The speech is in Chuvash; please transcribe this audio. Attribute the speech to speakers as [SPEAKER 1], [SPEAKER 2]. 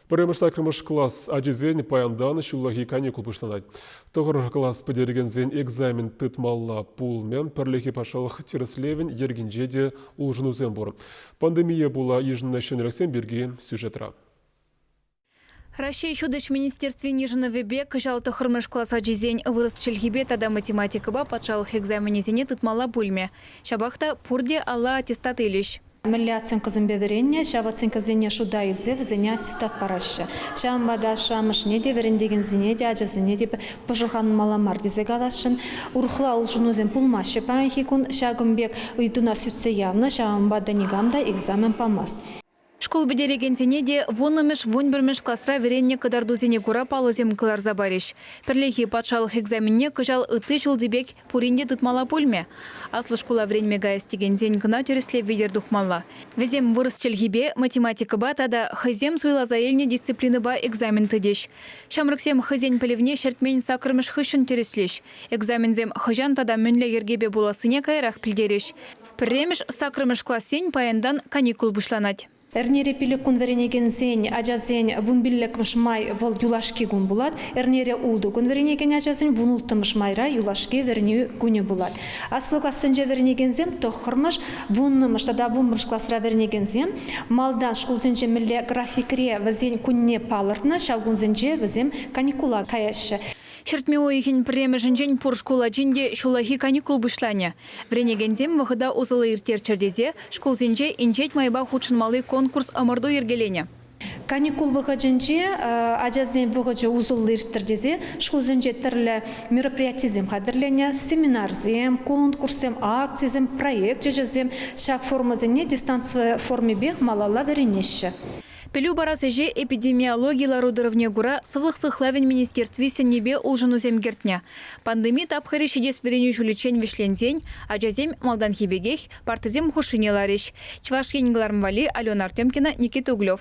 [SPEAKER 1] Пӗрремӗш саккӑрмӗш класс ачисен паянтан ҫуллахи каникул пуҫланать. Тӑхӑр класс пӗтерекенсен экзамен тытмалла пулмӗ. Пӗрлехи патшалӑх тӗрӗслевӗн йӗркинче те улшӑнусем пур. Пандемие пула йышӑннӑ ҫӗнӗлӗхсем пирки сюжетра. Раҫҫей
[SPEAKER 2] Ҫутӗҫ министерствин йышӑнӑвӗпе кӑҫал тӑххӑрмӗш класс ачисен вырӑс чӗлхипе тата математикӑпа патшалӑх экзаменӗсене тытмалла пулмӗ. Ҫапах та пурте алла аттестат илӗҫ. Мӗнле оценкӑсемпе
[SPEAKER 3] вӗреннӗ, ҫав оценкӑсене шута илсе вӗсене аттестат параҫҫӗ. Ҫавӑнпа та ашшӗ-амӑшне те, вӗрентекенсене те, ачасене те пӑшӑрханмалла мар тесе каласшӑн. Урӑхла улшӑнусем пулмаҫҫӗ паянхи кун. Ҫакӑн пек ыйтуна сӳтсе явнӑ, ҫавӑнпа та никам та экзамен памасть. Шкул
[SPEAKER 2] пӗтерекенсене те вуннӑмӗш-вунпӗрмӗш класра вӗреннӗ кӑтартусене кура паллӑсем кӑларса парӗҫ. Пӗрлехи патшалӑх экзаменне кӑҫал ытти ҫулти пек пурин те тытмалла пулмӗ. Аслӑ шкула вӗренме каяс текенсен кӑна тӗрӗслев витӗр тухмалла. Вӗсем вырӑс чӗлхипе, математикӑпа тата хӑйсем суйласа илнӗ дисциплинӑпа экзамен тытӗҫ. Ҫамрӑксем хӑйсен пӗлӗвне ҫӗртмен саккӑрмӗш хыҫҫӑн тӗрӗслӗҫ. Экзаменсем хӑҫан тата мӗнле йӗркепе пулассине каярах пӗлтерӗҫ. Пӗрремӗш, саккӑрмӗш классен паянтан каникул пуҫланать. Эрнере пилӗк кун
[SPEAKER 3] вӗренекенсен, ачасен вун пиллӗкмӗш май вӑл юлашки кун пулать. Эрнере ултӑ кун вӗренекен ачасен вун улттӑмӗш майра юлашки вӗренӳ кунӗ пулать. Аслӑ классенче вӗренекенсем тӑххӑрмӗш, вуннӑмӗш тата вунпӗмӗш класра вӗренекенсем малтан шкулсенче мӗнле графикре вӗсен кунне палӑртнӑ, ҫав кунсенче вӗсем каникула каяҫҫӗ. Ҫӗртме уйӑхӗн
[SPEAKER 2] пӗрремӗшӗнчен пур шкул ачин те ҫуллахи каникул пуҫланӗ. Вӗренекенсем вӑхӑта усӑллӑ ирттерччӗр тесе шкулсенче Инҫет майпа хутшӑнмалли конкурс-ӑмӑрту йӗркеленӗ. Каникул
[SPEAKER 3] вӑхӑтӗнче ачасен вӑхӑчӗ усӑллӑ ирттӗр тесе шкулсенче тӗрлӗ мероприятисем хатӗрленӗ, семинарсем, конкурссем, акцисем, проект ӗҫӗсем, ҫак формӑсене дистанци формипех малалла вӗренеҫҫӗ. Пӗлӳ парас
[SPEAKER 2] ӗҫе эпидемиологи лару-тӑрӑвне кура Сывлӑх сыхлавӗн министерстви сӗннипе улшӑнусем кӗртнӗ. Пандеми тапхӑрӗ ҫитес вӗренӳ ҫулӗччен вӗҫленсен ачасем малтанхи пекех партӑсем хушшине ларӗҫ, Чӑваш Ен кӑларӑм валли Алена Артемкина, Никита Углев.